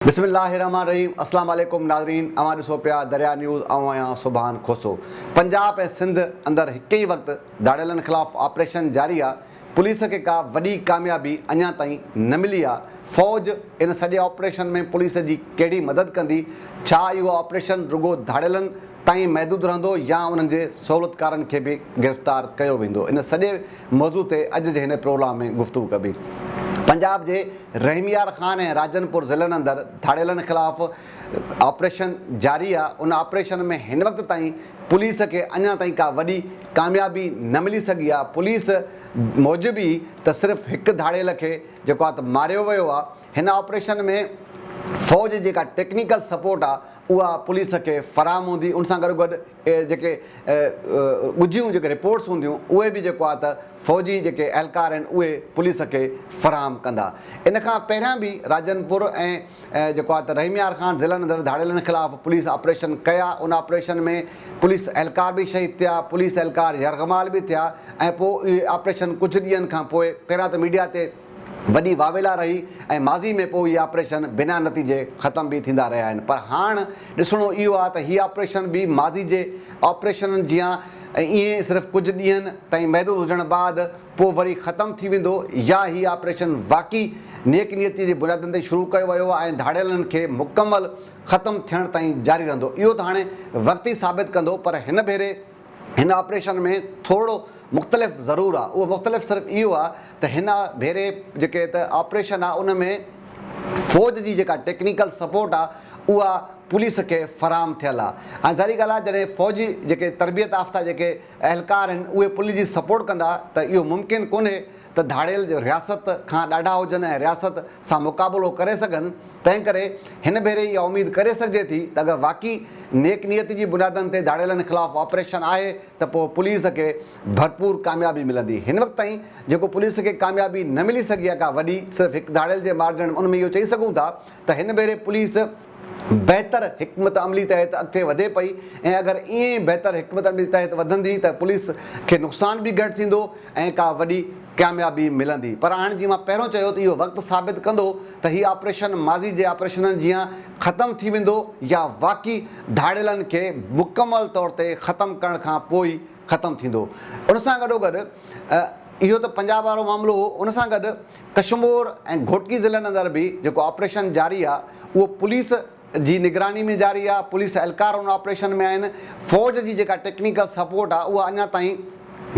بسم الله الرحمٰن الرحيم اسلام عليڪم ناظرين اوهان ڏسو پيا دريا نيوز آئون آهيان سوڀان کوسو پنجاب ۽ سنڌ اندر هڪ ئي وقت ڌاڙيلن خلاف آپريشن جاري آ پوليس کي ڪا وڏي ڪاميابي اڃان تائين نه ملي آ فوج ان سڄي آپريشن ۾ پوليس جي ڪهڙي مدد ڪندي ڇا اهو آپريشن رڳو ڌاڙيلن تائين محدود رهندو يا انهن جي سهولتڪارن کي به گرفتار ڪيو ويندو ان سڄي موضوع تي اڄ جي هن پروگرام ۾ گفتگو ڪبي. پنجاب جي رحميار خان ۽ راجن پور ضلعن اندر ڌاڙيلن خلاف آپريشن جاري آ، ان آپريشن ۾ هن وقت تائين پوليس کي اڃا تائين ڪا وڏي ڪاميابي نه ملي سگهي آ، پوليس موجب ئي ته صرف هڪ ڌاڙيل کي جيڪو آ ته ماريو ويو آ، هن آپريشن ۾ فوج جي جيڪا ٽيڪنيڪل سپورٽ آ اها پوليس کي فراهم هوندي، ان سان گڏوگڏ. اهي جيڪي ڳجهيون جيڪي رپورٽس هونديون اهي به جيڪو آهي ته فوجي جيڪي اهلڪار آهن اهي پوليس کي فراهم ڪندا. ان کان پهريان به راجن پور ۽ جيڪو آهي ته رحيم يار خان ضلعن اندر ڌاڙيلن خلاف پوليس آپريشن ڪيا ان آپريشن ۾ پوليس اهلڪار به شهيد ٿيا پوليس اهلڪار يرغمال به ٿيا ۽ پوء اهي آپريشن ڪجهه ڏينهن کان پوء پهريان ته ميڊيا تي وڏي واويلا رهي ۽ ماضي ۾ پوء هي آپريشن بنا نتيجي ختم به ٿيندا رهيا آهن پر هاڻ ڏسڻو اهو آهي ته هي آپريشن به ماضي جي آپريشنن جيان ائين صرف ڪجهه ڏينهن تائين محدود هجڻ بعد پوء وري ختم ٿي ويندو يا هي آپريشن واقعي نيڪ نيتي جي بنيادن تي شروع ڪيو ويو ۽ ڌاڙيلن کي مڪمل ختم ٿيڻ تائين جاري رهندو اهو ته هاڻي وقت ئي ثابت ڪندو پر هن ڀيري هن آپريشن ۾ ٿورڙو مختلف ضرور آ اهو مختلف صرف اهو آ ته هن ڀيري جيڪي ته آپريشن آ ان ۾ فوج جي جيڪا ٽيڪنيڪل سپورٽ آ اها پوليس کي فراهم ٿيل آ هاڻي ظاهري ڳالهه آ جڏهن فوجي جيڪي تربيت آفته جيڪي اهلڪار آهن اهي پوليس جي سپورٽ ڪندا ته اهو ممڪن ڪونهي ته ڌاڙيل جو رياست کان ڏاڍا هجن ۽ رياست سان مقابلو ڪري سگهن، تنهنڪري هن ڀيري اها اميد ڪري سگهجي ٿي ته اگر واقعي نيڪ نيتي جي بنيادن تي ڌاڙيلن خلاف آپريشن آهي ته پوء پوليس کي ڀرپور ڪاميابي ملندي. هن وقت تائين جيڪو پوليس کي ڪاميابي نه ملي سگهي آهي ڪا وڏي، صرف هڪ ڌاڙيل جي مارجڻ ۾ ان ۾ اهو چئي سگهون ٿا ته هن ڀيري پوليس، بهتر حڪمت عملي تحت اڳتي وڌي پئي ۽ اگر ائين ئي بهتر حڪمت عملي تحت وڌندي ته پوليس کي نقصان به گهٽ ٿيندو ۽ ڪا وڏي ڪاميابي ملندي پر هاڻ جيئن مان پهريون چيو ته اهو وقت ثابت ڪندو ته هي آپريشن ماضي جي آپريشنن جيان ختم ٿي ويندو يا واقعي ڌاڙيلن کي مڪمل طور تي ختم ڪرڻ کان پوء ئي ختم ٿيندو ان سان گڏوگڏ اهو ته پنجاب وارو معاملو هو ان سان گڏ ڪشمور ۽ گهوٽڪي ضلعن اندر به جيڪو آپريشن جاري آ اهو پوليس جي نگراني ۾ جاري آ، پوليس اهلڪار ان آپريشن ۾ آهن، فوج جي جيڪا ٽيڪنيڪل سپورٽ آ اها اڃا تائين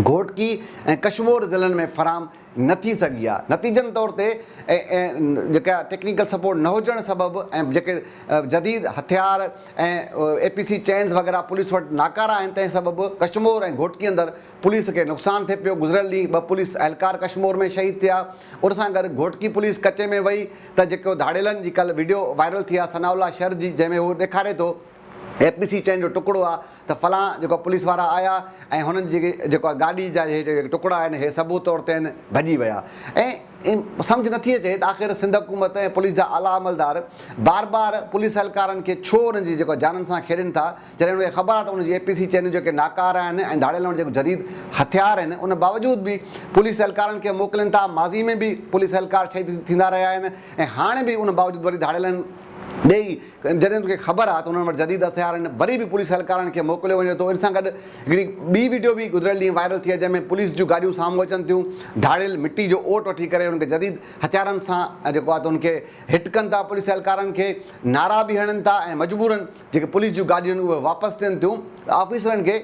گهوٽڪي ۽ ڪشمور ضلعن ۾ فراهم نه ٿي سگهي آ، نتيجن طور تي جيڪا ٽيڪنيڪل سپورٽ نه هجڻ سبب ۽ جيڪي جديد هٿيار ۽ اي پي سي چينز وغيره پوليس وٽ ناڪارا آهن تنهن سبب ڪشمور ۽ گهوٽڪي اندر پوليس کي نقصان ٿئي پيو، گذريل ڏينهن ٻه پوليس اهلڪار ڪشمور ۾ شهيد ٿيا، ان سان گڏ گهوٽڪي پوليس ڪچي ۾ وئي ته جيڪو ڌاڙيلن جي ڪلهه وڊيو وائرل ٿي آهي ثناء الله شر جي جنهن ۾ هو ڏيکاري ٿو اي پي سي چئن جو ٽڪڙو آهي ته فلاڻ جيڪو پوليس وارا آيا ۽ هنن جي جيڪو گاڏي جا اهي جيڪي ٽڪڙا آهن اهي ثبوت طور تي آهن ڀڄي ويا ۽ سمجهه نٿي اچي ته آخر سنڌ حڪومت ۽ پوليس جا اعليٰ عملدار بار بار پوليس اهلڪارن کي ڇو انهن جي جيڪو جانن سان کيڏين ٿا جڏهن هن کي خبر آهي ته هن جي اي پي سي چينون جيڪي ناڪاره آهن ۽ ڌاڙيل هئڻ جيڪو جديد هٿيار آهن ان باوجود به پوليس اهلڪارن کي موڪلين ٿا ماضي ۾ به پوليس اهلڪار شهيد ٿيندا رهيا آهن ۽ هاڻي به ان باوجود وري ڌاڙيلن ڏيئي جڏهن ان کي خبر آهي ته انهن وٽ جديد هٿيار آهن وري به پوليس اهلڪارن کي موڪليو وڃي ٿو ان سان گڏ هڪڙي ٻي وڊيو به گذريل ڏينهن وائرل ٿي آهي جنهن ۾ پوليس جون گاڏيون سامهون اچن ٿيون ڌاڙيل مٽي جو اوٽ وٺي ڪري ان کي جديد هٿيارن سان جيڪو آهي ته ان کي هٽ ڪن ٿا پوليس اهلڪارن کي نعرا به هڻن ٿا ۽ مجبورن جيڪي پوليس جون گاڏيون آهن اهي واپس ٿين ٿيون ته آفيسرن کي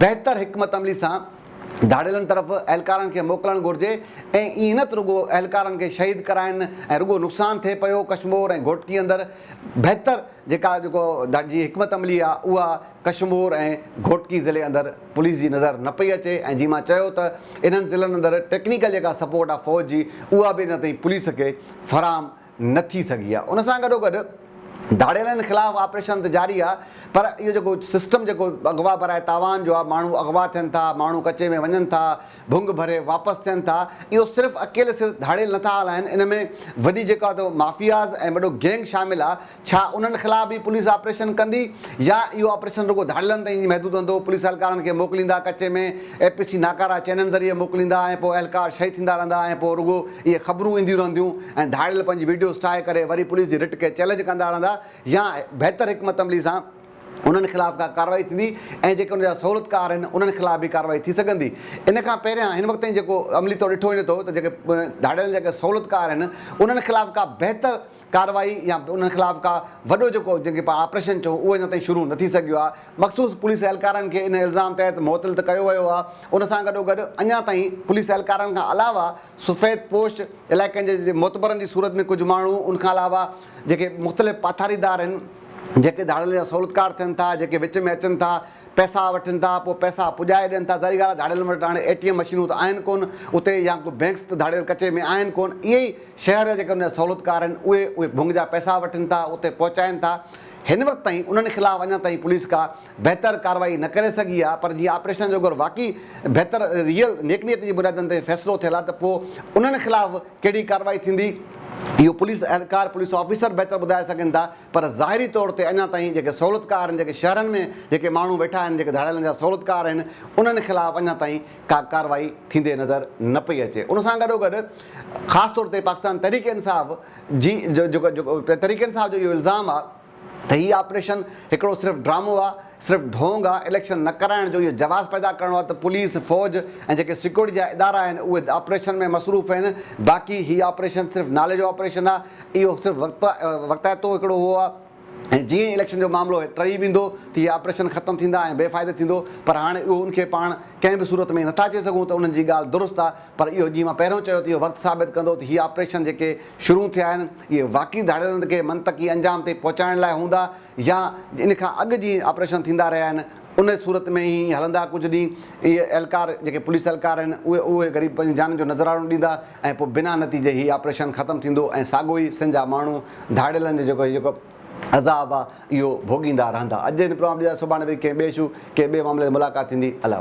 بهتر حڪمت عملي سان ڌاڙيلن طرف اهلڪارن کي موڪلڻ گهرجي ۽ ائين نه ته رڳو اهلڪارن کي شهيد ڪرائين ۽ رڳو نقصان ٿئي پيو ڪشمور ۽ گهوٽڪي اندر بهتر جيڪا جيڪو جي حڪمت عملي آهي اها ڪشمور ۽ گهوٽڪي ضلعي اندر پوليس جي نظر نه پئي اچي ۽ جيئن مان چيو ته انهن ضلعن اندر ٽيڪنيڪل جيڪا سپورٽ آهي فوج جي اها به اڃا تائين پوليس کي فراهم نه ٿي سگهي آهي ان سان گڏوگڏ ڌاڙيلن خلاف آپريشن ته جاري آهي پر اهو جيڪو سسٽم جيڪو اغوا براء تاوان جو آهي ماڻهو اغوا ٿين ٿا ماڻهو ڪچي ۾ وڃن ٿا ڀنگ ڀري واپس ٿين ٿا اهو صرف اڪيلي صرف ڌاڙيل نه ٿا هلائين ان ۾ وڏي جيڪا ته مافياز ۽ وڏو گينگ شامل آهي ڇا انهن خلاف به پوليس آپريشن ڪندي يا اهو آپريشن رڳو ڌاڙيلن تائين محدود هندو پوليس اهلڪارن کي موڪليندا ڪچي ۾ اي پي سي ناڪارا چئنل ذريعي موڪليندا ۽ پوء اهلڪار شهيد ٿيندا رهندا ۽ پوء رڳو اهي خبرون اينديون رهنديون ۽ ڌاڙيل پنهنجي وڊيوز ٺاهي ڪري وري پوليس جي رٽ کي چئلينج ڪندا رهندا يا بهتر حڪمت عملي سان انهن خلاف ڪا ڪارروائي ٿيندي ۽ جيڪي ان جا سهولتڪار آهن انهن خلاف به ڪارروائي ٿي سگهندي ان کان پهريان هن وقت تائين جيڪو عملي طور ڏٺو وڃي ٿو ته جيڪي ڌاڙيل جيڪي سهولتڪار آهن انهن خلاف ڪا بهتر ڪارروائي يا انهن خلاف ڪا وڏو جيڪو جنهن کي پاڻ آپريشن چئون اهو اڃا تائين شروع نه ٿي سگهيو آهي، مخصوص پوليس اهلڪارن کي ان الزام تحت معطل ته ڪيو ويو آهي، ان سان گڏوگڏ اڃا تائين پوليس اهلڪارن کان علاوه سفيد پوش علائقن جي معتبرن جي صورت ۾ ڪجهه ماڻهو ان کان علاوه جيڪي مختلف پاٿاريدار آهن جيڪي ڌاڙيلن جا سهولتڪار ٿين ٿا جيڪي وچ ۾ اچن ٿا، پئسا وٺن ٿا پوء پئسا پڄائي ڏين ٿا ظاھري ڳالھ آ ڌاڙيلن وٽ ھاڻي اي ٽي ايم مشينون ته آھن ڪون اتي يا ڪو بينڪس ته ڌاڙيل ڪچي ۾ آھن ڪون اھي ئي شھر جا جيڪي ان جا سھولتڪار آھن اھي اھي ڀنگ جا پئسا وٺن ٿا اتي پھچائين ٿا ھن وقت تائين انھن خلاف اڃا تائين پوليس ڪا بھتر ڪارروائي نه ڪري سگھي آ پر جيئن آپريشن جو اگر واقعي بھتر ريئل نيڪ نيت جي بنيادن تي فيصلو ٿيل آ ته پوء انھن خلاف ڪھڙي ڪارروائي ٿيندي اھو پوليس اھلڪار پوليس آفيسر بھتر ٻڌائي سگھن ٿا. پر ظاهري طور تي اڃا تائين جيڪي سهولتڪار آهن، جيڪي شهرن ۾ جيڪي ماڻهو ويٺا آهن، جيڪي ڌاڙيلن جا سهولتڪار آهن، انهن خلاف اڃا تائين ڪا ڪارروائي ٿيندي نظر نه پئي اچي. ان سان گڏوگڏ خاص طور تي پاڪستان تحريڪ انصاف جي تحريڪ انصاف جو اهو الزام آ ته هي آپريشن هڪڙو صرف ڊرامو آ، صرف ڍونگ آ، اليڪشن نه ڪرائڻ جو اهو جواز پيدا ڪرڻو آ ته پوليس، فوج ۽ جيڪي سيڪيورٽي جا ادارا آهن اهي آپريشن ۾ مصروف آهن، باقي هي آپريشن صرف نالي جو آپريشن آ. اهو صرف وقت وقتائتو هڪڙو هو آ ۽ جيئن ئي اليڪشن جو معاملو ٽهي ويندو ته هي آپريشن ختم ٿيندا ۽ بي فائده ٿيندو پر هاڻي اهو ان کي پاڻ ڪنهن به صورت ۾ نٿا چئي سگهون ته انهن جي ڳالهه درست آ پر اهو جيئن مان پهريون چيو ته اهو وقت ثابت ڪندو ته هي آپريشن جيڪي شروع ٿيا آهن اهي واقعي ڌاڙيلن کي منطقي انجام تي پهچائڻ لاء هوندا يا ان کان اڳ جي آپريشن ٿيندا رهيا آهن ان صورت ۾ هي هلندا ڪجهه ڏينهن اهي اهلڪار جيڪي پوليس اهلڪار آهن اهي اهي غريب پنهنجي جانن جو نذراڻو ڏيندا ۽ پوء بنا نتيجي هي آپريشن ختم ٿيندو ۽ ساڳو ئي سن جا ماڻهو ڌاڙيلن جو جيڪو جيڪو عذاب آهي اهو ڀوڳيندا رهندا اڄ هن پروگرام ڏيندا سڀاڻي وري ڪنهن ٻئي اشو ڪنهن ٻئي معاملي تي ملاقات ٿيندي الله